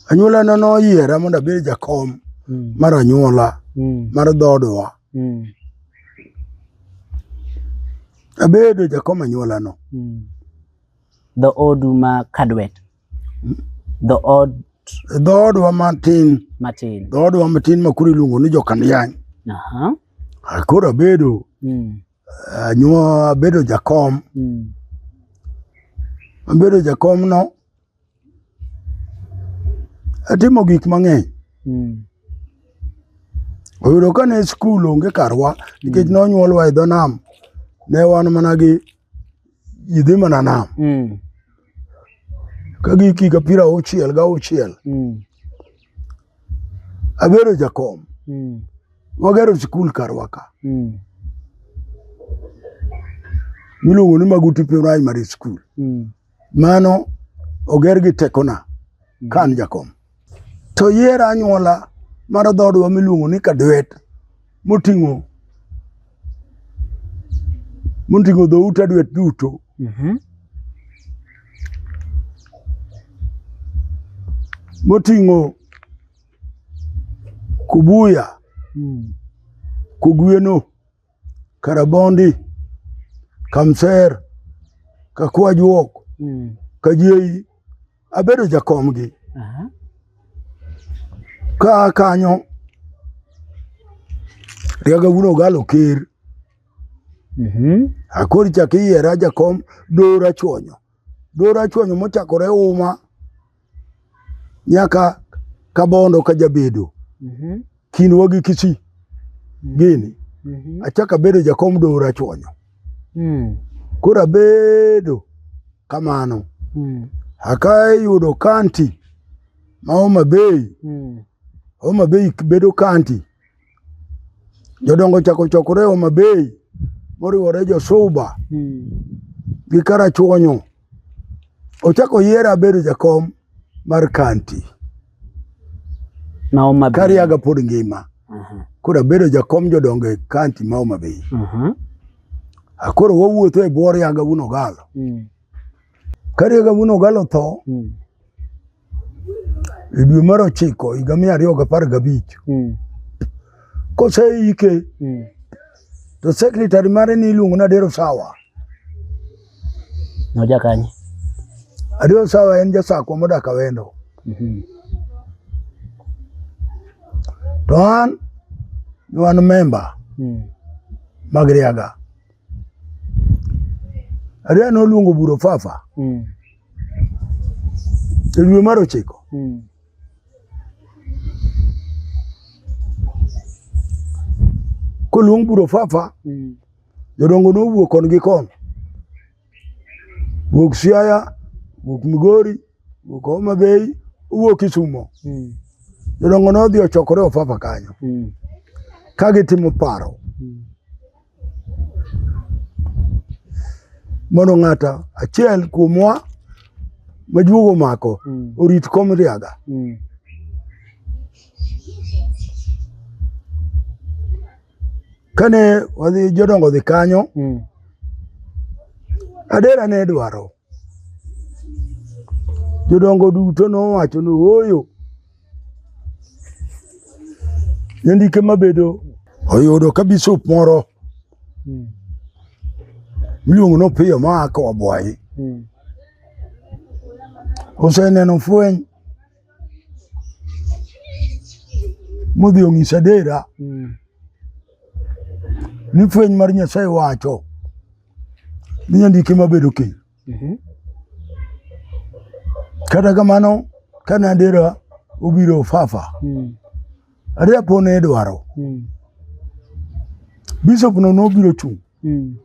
Anyuolana noyiera mondo abed jakom mm. mar anyuola mm. mar dhoodwa. Mm. Abedo jakom anyuolano. Mm. Dho odu ma Kadwet. Mm. Dho od dho odwa matin matin dho odwa matin ma koro iluongo ni jokaniany ah, koro abedo hmm. anyuo abedo jakom hmm. abedo jakomno Atimo gik mang'eny. Mm. Oyudo ka ne skul onge karwa nikech mm. nonyuolwa e dho nam ne wan mana gi ji dhi mana nam mm. ka giki ka pira auchiel ga auchiel mm. abedo jakom mm. wagero skul karwa ka mm. miluongo ni Maguti Primary School mm. Mano oger gi tekona ka an jakom. To yier anyuola mar dhoodwa miluongo ni Kadwet moting'o moting'o dhout Adwet duto. Mhm. Moting'o Kubuya, Mm. Kogweno, Karabondi, Kamser, Kakwajuok, mm. Kajieyi, abedo jakomgi. Uh -huh. Ka kanyo Riaga wuon Ogalo Ker. Mm -hmm. Akori chak iyiera jakom Dora Chuonyo. Dora Chuonyo mochakore Uma nyaka kabondo ka jabedo mm -hmm. kinwa gi kichi mm -hmm. gini mm -hmm. achak abedo jakom dora chonyo mm. koro abedo kamano mm. akayudo kanti ma Homa Bay mm. Homa Bay bedo kanti jodongo chako chokore Homa Bay moriwore Josuba mm. gi Karachuonyo Ochako yiera abedo jakom mar kanti. Ma Homa Bay. Kariaga pod ngima. Uh mhm. -huh. Koro abedo jakom jodongo e kanti ma Homa Bay. Uh mhm. -huh. Akoro wawuotho e bwo Riaga wuon Ogalo. Mm. Ka Riaga wuon Ogalo tho, mm. e dwe mar ochiko higa mia ariyo gi apar gabich mm. koseike mm. to sekretari mare ni iluongo ni Adero Sawa. Noja kanye? Adero Sawa en jasakwa modak Awendo. Mm -hmm. To an ni wan memba mm. mag Riaga. Adwa noluongo buro fafa mm. e dwe mar ochiko mm. koluong buro fafa mm. jodongo nowuok kon gi kon wuok Siaya wuok Migori wuok Homa Bay owuok Kisumo mm. jodongo nodhi ochokore ofafa kanyo mm. ka gitimo paro mm. Mondo ng'ata achiel kuomwa majuogo mako mm. orit kom riaga. Mm. Kane wadhi jodongo dhi kanyo, mm. adera ne dwaro. Jodongo duto nowacho ni ooyo, jandike mabedo oyudo ka bisop moro hmm. miluongo ni Opiyo ma a Kawabwayi hmm. oseneno fweny modhi ong'isa dera hmm. ni fweny mar Nyasaye wacho Minya ndike mabedo kiny. Mhm. Kata kamano ka Nandera obiro Ofafa, Mm. Aria po ne idwaro. Mm. Bishop no nobiro chung'. Mm.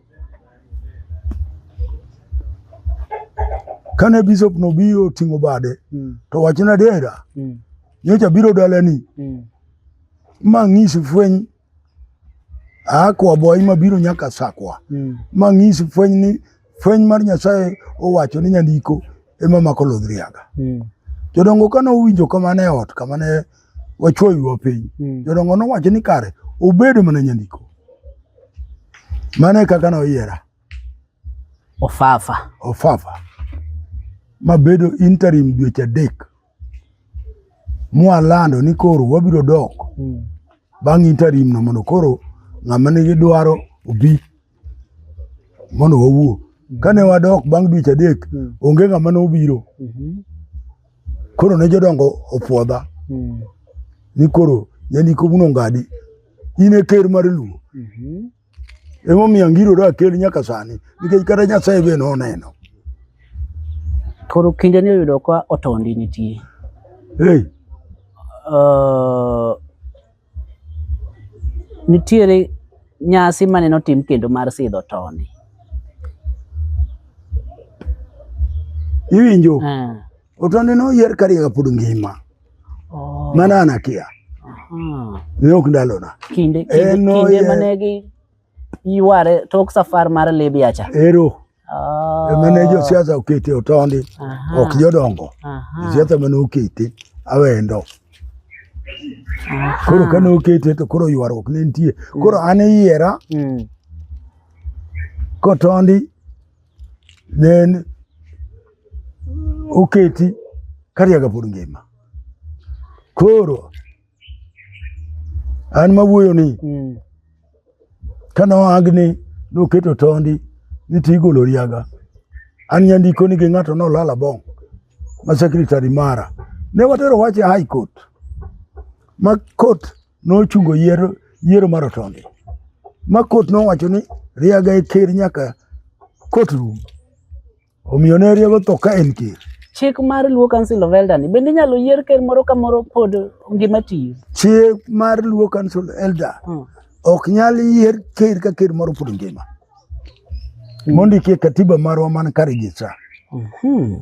Kane bishop no biro ting'o bade, Mm. to wach Nandera Mm. nyocha biro dalani Mm. ma ng'isi fweny a kwa boy mabiro nyaka sakwa mm. mang'isi fweny ni fweny mar Nyasaye owacho ni nyandiko ema mako lodhriaga mm. jodongo kane owinjo kamano e ot kamane wachuoywa piny mm. jodongo nowacho ni kare obed mana nyandiko mano e kaka noyiera ofafa ofafa mabedo interim dweche adek mwalando ni koro wabiro dok mm. bang' interim no mondo koro ng'ama nigi dwaro obi mondo wawuo mm. kane wadok bang' dweche adek mm. onge ng'ama nobiro mm-hmm. koro ne jodongo opwodha mm. ni koro yanikobuno ngadi in e ker mar luo mm-hmm. Emomiyo angiro da kel nyaka sani nikech kata Nyasaye be noneno. Koro kinde ni oyudo ka otondi nitie. Hey. Uh, nitiere nyasi mane notim kendo mar sidho tondi. Iwinjo? Uh. Otonde no yer kariega pod ngima. Oh. Mana anakia. Aha. Ne ok ndalona. Kinde kinde, Eno kinde ye- mane gi yuare tok safar mar Libya cha. Ero. Oh. Emane jo siasa okete otonde. Aha. Ok jodongo. Aha. Siasa mane okete awendo. Aha. Koro kane okete to koro ywaruok ne nitie. Koro an iyiera Mm. kotondi then oketi kariaga pod ngima koro an mawuoyo ni mm. kane oagni noketo tondi ni to igolo riaga an nyandiko ni gi ng'ato nolala bong' ma secretary mara ne watero wach e high court ma court nochungo yiero yiero mar otonde ma kot nowacho ni riaga e ker nyaka kot rum omiyo ne riago tho ka en ker chik mar luo council of elder ni bende inyalo yier ker moro ka moro pod ngima tiyo chik mar luo council elder hmm. ok nyal yier ker ka ker moro pod ngima hmm. mondikie katiba marwa man ka registra hmm.